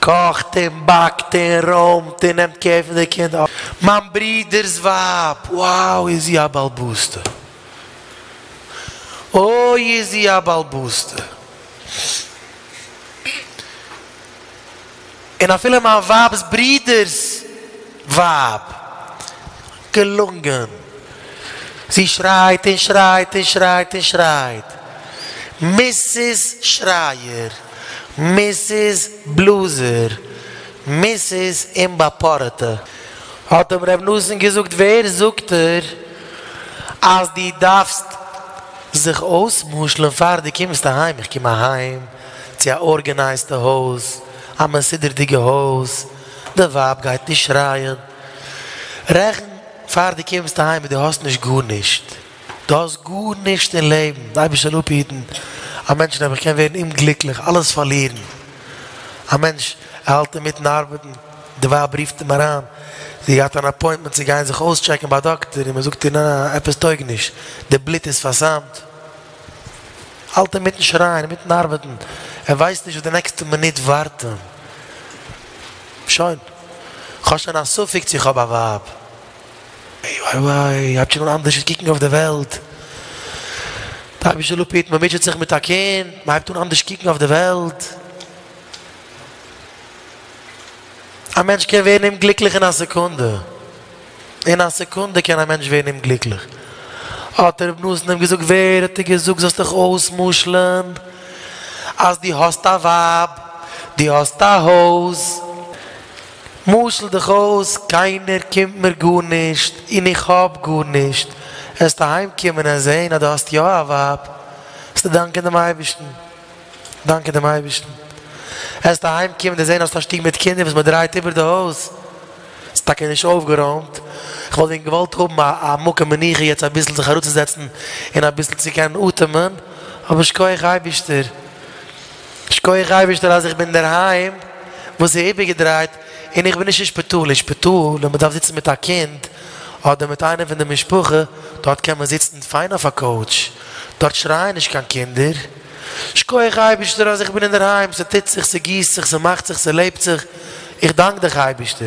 קאכט און באקט און רוימט און נעמט קער פון די קינדער. מיין ברודער'ס ווייב, wow איז זי א בעל בוסטע! אוי איז זי א בעל בוסטע! און אפילו מיין ווייב'ס ברודער'ס. ווייב, געלונגען! זי שרייט און שרייט און שרייט און שרייט. מיסיס שרייער! מיסיס בלאזער! מיסיס אומבאפארעטע! האט אים ר' נתן געזאגט, ווער זאגט דיר אז דו דארפסט זיך אויס'משל'ן פאר דו קומסט אהיים? איך קום אהיים צו א ארגענייזטע הויז, א מסודר'דיגע הויז. די ווייב גייט נישט שרייען, רעכן פאר דו קומסט אהיים און דו האסט נישט גארנישט, דו האסט גארנישט אין לעבן, די אייבערשטער זאל אפהיטן, א מענטש נעבעך קען ווערן אומגליקליך, אלעס פארלירן, א מענטש ער האלט אינמיטן ארבעטן, די ווייב רופט אים אריין, זי האט געהאט אן אפוינטמענט צו גיין זיך אויסטשעקן ביי א דאקטער און מען זאגט איר ניין עפעס טויג נישט, די בלוט איז פארסאמט. האלט אים מיטן שרייען און מיטן ארבעטן, ער ווייסט נישט וואס די נעקסטע מינוט ווארט אים. שוין, כ'האב שוין א ספק צו כ'האב א ווייב. איי וויי וויי, הייבט שוין אן אנדערש קוקן אויף די וועלט. די אייבישטער לפיד, מ'מוטשעט זיך מיט א קינד, מ'הייבט אן אנדערש קוקן אויף די וועלט. א מענטש קען ווערן אומגליקליך אין א סעקונדע. אין א סעקונדע קען א מענטש ווערן אומגליקליך. האט דער רבי נתן אים געזאגט, ווער האט דיר געזאגט זאלסט דיך אויס'משל'ן אז דו האסט א ווייב, דו האסט א הויז, משל דיך אויס, קיינער קומט מיר גארנישט און איך האב גארנישט, וועסטו אהיים קומען און זען אז דו האסט יא א ווייב, וועסטו דאנקען דעם אייבערשטן. דאנקען דעם אייבערשטן העסטו אהיים קומען דערזען האסט א שטוב מיט קינדער וואס מען דרייט איבער די הויז ס'איז טאקע נישט אויפגערוימט איך וואלט ווען געוואלט האבן א א מקום מנוחה יעצט אביסל זיך אראפצוזעצן און אביסל צו קענען אטעמען אבער שכוח אייבערשטער שכוח אייבערשטער אז איך בין אינדערהיים וואס איז איבערגעדרייט און איך בין נישט אין שפיטאל אין שפיטאל ווען מען דארף זיצן מיט א קינד אדער מיט איינער פון די משפחה דארט קען מען זיצן פיין אויף א קאוטש דארט שרייען נישט קיין קינדער. שקויעך אייבישטער אז איך בין אינדערהיים, ס'טוט זיך, ס'גיסט זיך, ס'מאכט זיך, ס'לעבט זיך, איך דאנק דיך אייבישטער.